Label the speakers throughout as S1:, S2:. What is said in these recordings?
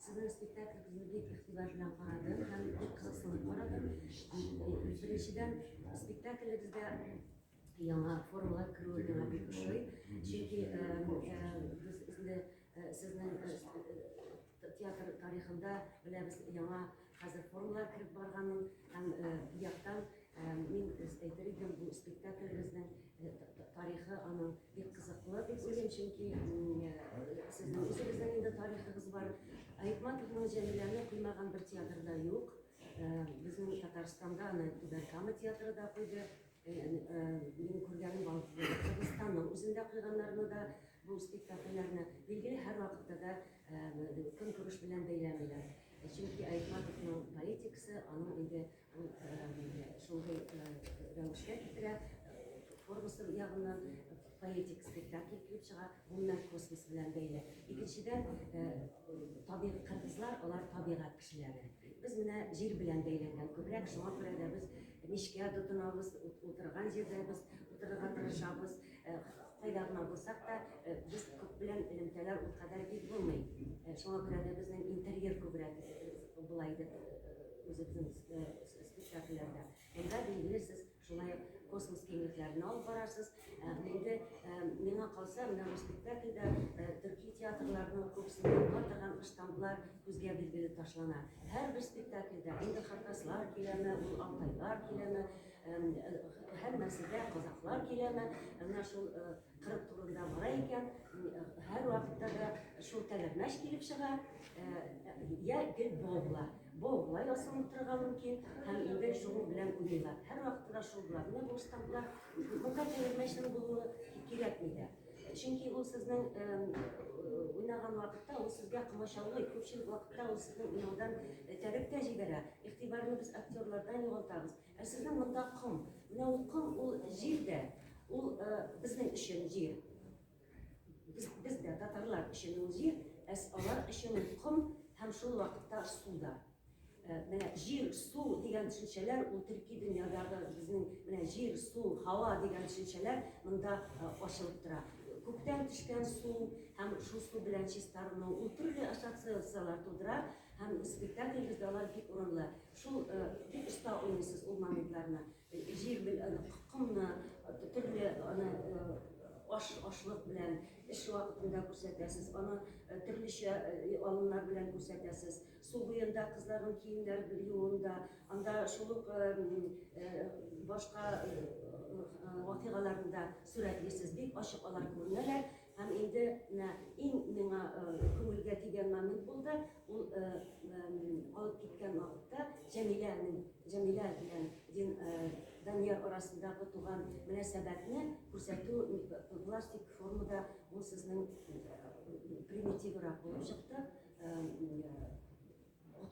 S1: Сезнең спектакльгезне бик игътибар белән карадым һәм бик кызыксынып карадым. Беренчедән, спектакльгезгә яңа формалар керүе миңа бик ошый. Чөнки без инде сезнең театр тарихында беләбез яңа Хәзер форумнар кереп барганын һәм бу яктан мин әйтер идем, бу спектакльбезнең тарихы аның бик кызыклы дип уйлыйм, чөнки сезнең үзегезнең инде тарихыгыз бар. Айтматовны Җәмиләне куймаган бер театрда юк. Безнең Татарстанда аны Түбән Кама театры да куйды. Мин күргәнем балкыгы, Кыргызстанның үзендә куйганнарны да, бу спектакльләрне, билгеле, һәр вакытта да көнкүреш белән бәйләмиләр. Чөнки Айтматовның поэтикасы, аның инде шундый рәвешкә китерә, формасы ягыннан Поэтик спектакль килеп чыга, гомумән космос белән бәйле. Икенчедән, табигать кыргызлар, алар табигать кешеләре. Без менә җир белән бәйләнгән күбрәк, шуңа күрә дә без мичкә тотынабыз, утырган җирдә без утырырга тырышабыз. Кайда гына булсак та, без күп белән элемтәләр ул кадәр бик булмый. Шуңа күрә дә безнең интерьер күбрәк була иде үзебезнең спектакльләрдә. Монда билгеле сез Шулай ук космос киңлекләренә алып барасыз. Ә, инде ә, миңа калса, менә бу спектакльдә ә, төрки театрларының күбесендә була торган штамплар күзгә билгеле ташлана. Һәрбер спектакльдә инде хакаслар киләме, ул алтайлар киләме, ә, һәммәсе дә казаклар киләме, менә шул Кырык турында бара икән, һәр вакытта да шул тәгәрмәч килеп чыга, я гел бобла. Бобла ясалып торырга мөмкин, һәм инде шул белән уйлыйлар. Һәр вакытта да шул белән менә бу штамплар. Монда тәгәрмәчнең булуы кирәкми дә. Чөнки ул сезнең уйнаган вакытта ул сезгә комачаулый, күпчелек вакытта ул сезнең уйнаудан этәреп тә җибәрә. Игътибарны без актерлардан югалтабыз. Ә сезнең монда ком. Менә ул ком, ул җир дә, ул безнең өчен җир. Без, без дә татарлар өчен ул җир, ә алар өчен ул ком һәм шул вакытта су да. Менә җир, су дигән төшенчәләр ул төрки дөньядагы безнең менә җир, су, һава дигән төшенчәләр монда ачылып тора. Күктән төшкән су һәм шул су белән чистарыну ул төрле ассоциацияләр тудыра һәм спектакльгездә алар бик урынлы. Шул бик оста уйныйсыз ул моментларны. Җир белән комны төрле аны аш ашлык белән эш вакытында күрсәтәсез, аны төрлечә алымнар белән күрсәтәсез. Су буенда кызларның киемнәр юуында, анда шул ук башка вакыйгаларында сурәтлисез. Бик ачык алар күренәләр. Һәм инде менә иң миңа күңелгә тигән момент булды. Ул алып киткән вакытта Җәмиләнең, Җәмилә белән Дин Данияр арасындагы туган мөнәсәбәтне күрсәтү пластик формада ул сезнең примитиврак булып чыкты.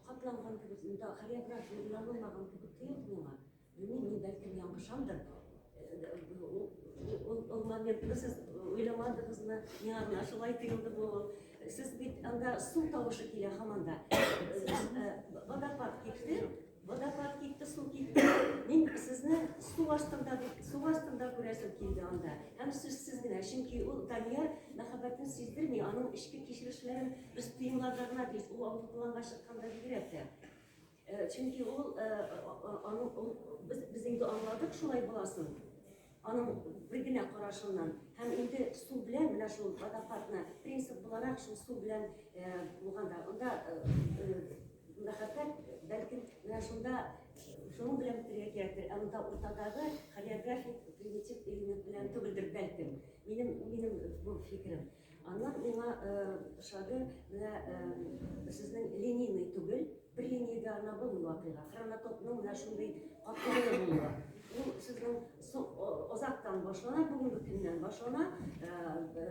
S1: Капланган кебек, монда хореография уйланылмаган кебек тоелды миңа. Белмим, мин бәлкем яңгышамдыр. Ул моментны сез уйламадыгызмы? Миңа гына шулай тоелды бу. Сез бит анда су тавышы килә һаман да. Водопад китте. Водопад китте, су китте. Мин сезне су астында, су астында күрәсем килде анда. Һәм сүз сез генә, чөнки ул Данияр мәхәббәтен сиздерми, аның эчке кичерешләрен без тоемларда гына без ул аудиториянга чыкканда бигрәк тә. Э, чөнки ул э, аның ул без без инде аңладык шулай буласын. Аның бер генә карашыннан һәм инде су белән менә шул водопадны принцип буларак шул су белән э, булганда анда Мәхәббәт, бәлкем, менә шунда шуның белән бетерергә кирәктер. Ә монда уртадагы хореографик примитив элемент белән түгелдер, бәлкем. Минем, минем бу фикерем. Аннан миңа ошады, менә сезнең линейный түгел, бер линиягә гына булмый вакыйга. Хронотопның менә шундый катлаулы булуы. Ул сезнең Озактан башлана, бүгенге көннән башлана.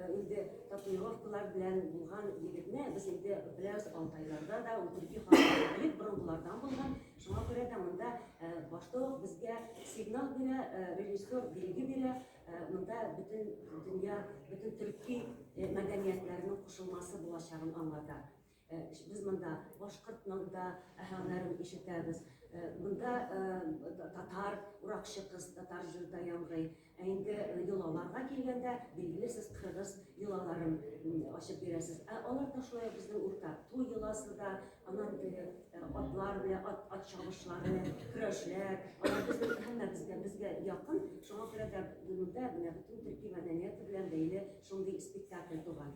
S1: Инде татуировкалар белән булган егетне без инде беләбез Алтайларда да, Утырки халкы борынгылардан булган. Шуңа күрә дә монда башта ук безгә сигнал бирә, режиссер билге бирә. Монда бөтен дөнья, бөтен төрки мәдәниятләренең кушылмасы булачагын аңлата. Без монда башкортның да һәнәрен ишетәбез. Монда татар уракчы кыз татар җырда яңгый. Ә инде йолаларга килгәндә, билгеле сез кыргыз йолаларын ачып бирәсез. Ә алар да шулай безнең урта. Туй йоласы да, аннан теге атлар белән ат, ат чабышлары, көрәшләр, алар безнең һәммәбезгә безгә якын. Шуңа күрә дә монда менә бөтен төрки мәдәнияте белән бәйле шундый спектакль туган.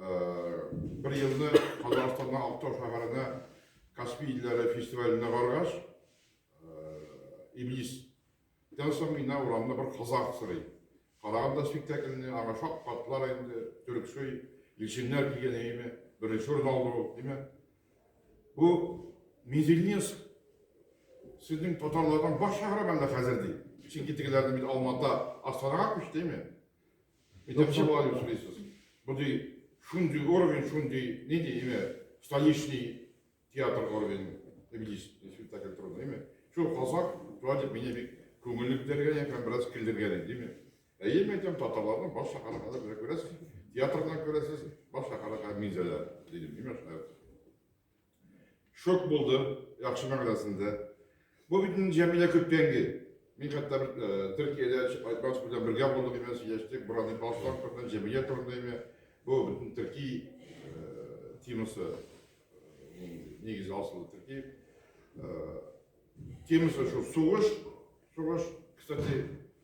S2: Бер елны Казахстанның Актау шәһәренә Каспий илләре фестиваленә баргач, Иблис Тән соң мина урамда бер казах сырый. Караган да спектакльне, аңа шак катлар инде, төрксөй, илченнәр килгән әйме, беренче урын алды ул, димә. Бу Мизельнес сезнең татарлардан баш шәһәре мәллә хәзер ди. Чөнки тегеләрне бит Алмата, Астанага күчте, әйме? Итәкче була дип сөйлисез. Мондый шундый уровень, шундый нинди имя, столичный театр уровень, иблис, спектакль турында, имя. Шул казак, шулай дип мине бик күңелле күтәргән һәм бераз килдергән иде, имя. Әйе, мин әйтәм, татарларның баш шәһәрендә белә күрәсез, театрдан күрәсез, баш шәһәрендә мин дә дидем, имя шәһәр. Шок булды, яхшы мәгънәсендә. Бу бит инде Җәмилә көткәнге. Мин хәтта бер э, Төркиядә Айбат белән бергә булдык име, сөйләштек, Буран Ибатов белән Җәмилә турында име. Бу бөтен төрки э, темасы э, нигез асылы төрки темасы шул сугыш, сугыш, кстати,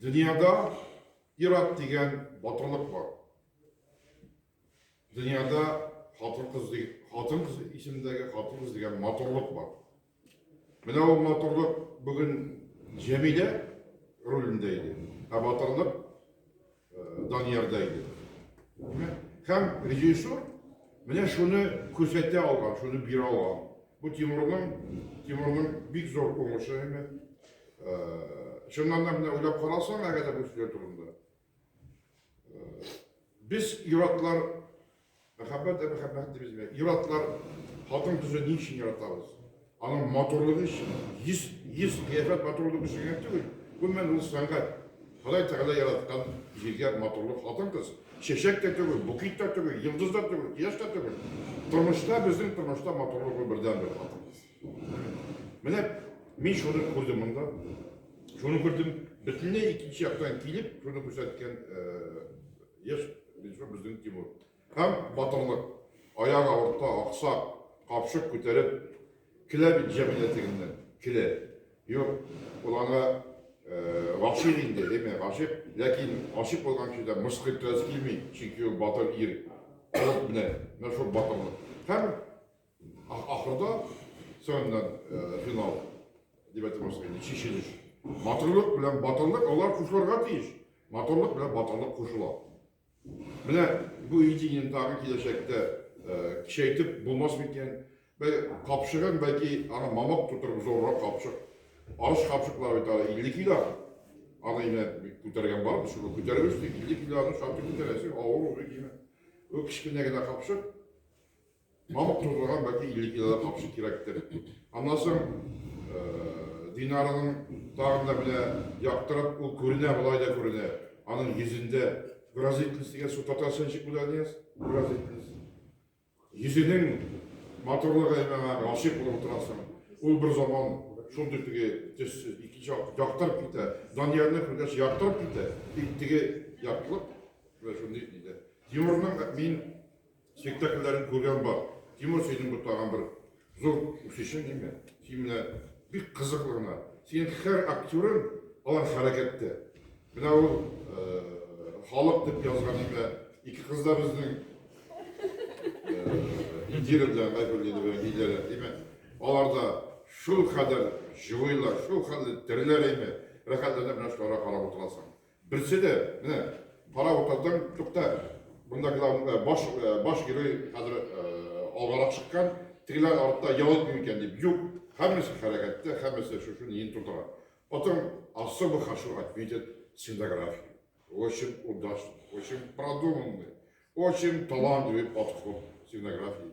S2: Дөньяда ир-ат дигән батырлык бар. Дөньяда хатын-кыз хатын-кыз исемендәге хатын-кыз дигән матурлык бар. Менә ул матурлык бүген Җәмилә ролендә иде. Ә батырлык э, Даниярда иде. Һәм режиссур менә шуны күрсәтә алган, шуны бирә алган. Бу Тимурның, Тимурның бик зор уңышы һәм чыннан да менә уйлап карасаң, әгәр дә бу сүзләр турында. Без иратлар Мәхәббәт дә мәхәббәт дибез бит. Ир-атлар хатын кызы ни өчен яратабыз? Аның матурлыгы өчен. Йөз, йөз кыяфәт матурлыгы өчен генә түгел. Гомумән, ул сәнгать. Ходай Тәгалә яраткан зилгәр матурлык хатын кыз. Чәчәк тә түгел, букет тә түгел, йолдыз да түгел, кояш та түгел. Тормышта, безнең тормышта матурлык ул бердәнбер хатын кыз. Менә мин шуны күрдем монда. Шуны күрдем. Бөтенләй икенче яктан килеп, шуны күрсәткән э, Еш Илсур безнең Тимур. Һәм батырлык. Аяк авырта, аксак, капчык күтәреп килә бит җәмилә тегеннән. Килә. Юк, ул аңа гашыйк инде, әйме, гашыйк, ләкин гашыйк булган кешедән мыскыл ителәсе килми, чөнки ул батыр ир. Алып менә, менә шул батырлык. Һәм. Ахырда соңыннан финал дип әйтәбез инде, чишелеш. Матурлык белән батырлык алар кушылырга тиеш. Матурлык белән батырлык кушыла. Менә бу идеяны тагы киләчәктә кичәйтеп булмас микән? Бәлки капшыгын, бәлки аны мамык тутырып зуррак капшык. Арыш капшыклар бит аны 50 кило. Аны инде күтәргән бар, без шуны күтәребез, 50 килоны шактый күтәрәсең, авыр уже димә. Ул кечкенә генә капшык, Мал турлыга бәки илле килограмм камчы кирәктер. Аннан соң Динараның тагын да менә яктырып ул күренә, болай да күренә. Аның йөзендә выразительность дигән су татарча ничек була дигән? Выразительность. Йөзенең матурлыгы миңа гашыйк булып утырасың. Ул бер заман шундый теге төссез икенче яктырып китә. Даниярны күргәч яктырып китә. Тик теге яктылык менә шундый диде. Тимурның мин Спектакльләрен күргән бар. Тимур, синең бу тагын бер зур үсешең инде. Син менә бик кызыклы гына. Синең һәр актерың алар хәрәкәттә. Менә ул халык дип язган иде. Ике кыз да безнең Индира белән Айгөл иде белән Лидия, димәк, алар да шул кадәр җылыйлар, шул хәтле тереләр иде. Рәхәтләнеп менә шуларга карап утырасың. Берсе дә, менә, кара утырдым, тукта, монда главный, баш, баш герой хәзер алгарак чыккан, тегеләр артта ял итми микән дип, юк, һәммәсе хәрәкәттә, һәммәсе шушы ниен тутыра. Потом особо хочу отметить сценографию. Очень удачно, очень продуманный, очень талантливый подход к сценографии.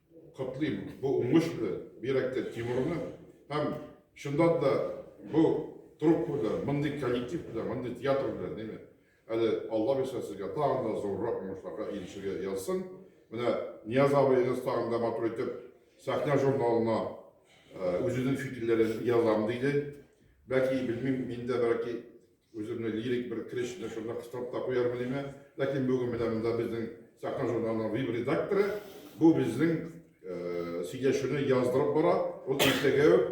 S2: Котлыйм бу уңыш белән, бигрәк тә Тимурны һәм чыннан да бу труппа белән, мондый коллектив белән, мондый театр белән, ди ме? Әле Алла бирсә сезгә тагын да зуррак уңышларга ирешергә язсын. Менә Нияз абыегыз тагын да матур итеп сәхнә журналына үзенең фикерләрен язам диде. Бәки, белмим, мин дә бәки Үземне лирик бер крич белән шунда кыстырып та куярмын име, ләкин бүген менә монда безнең Сәхнә журналының веб редакторы бу безнең сөйләшүне яздырып бара, ул иртәгә үк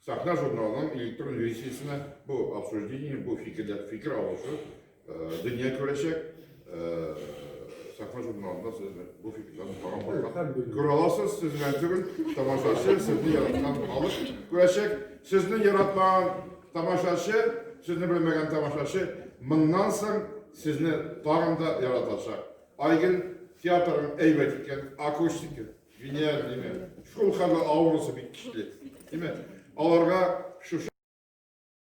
S2: Сәхнә журналының электрон версиясенә бу обсуждение, бу фикерләр, фикер алышу дөнья күрәчәк. Сәхнә журналында сез бу фикерләрне тагын барлап күрә аласыз, сез генә түгел, тамашачы, сезне яраткан халык күрәчәк, сезне яратмаган Тамашачы, сезне белмәгән тамашачы моннан соң сезне тагын да яратачак. Айгел театрын әйбәт иткән акустика, гениальныйме, шул хәлле авырысы бик көчле. Димәк, аларга шушы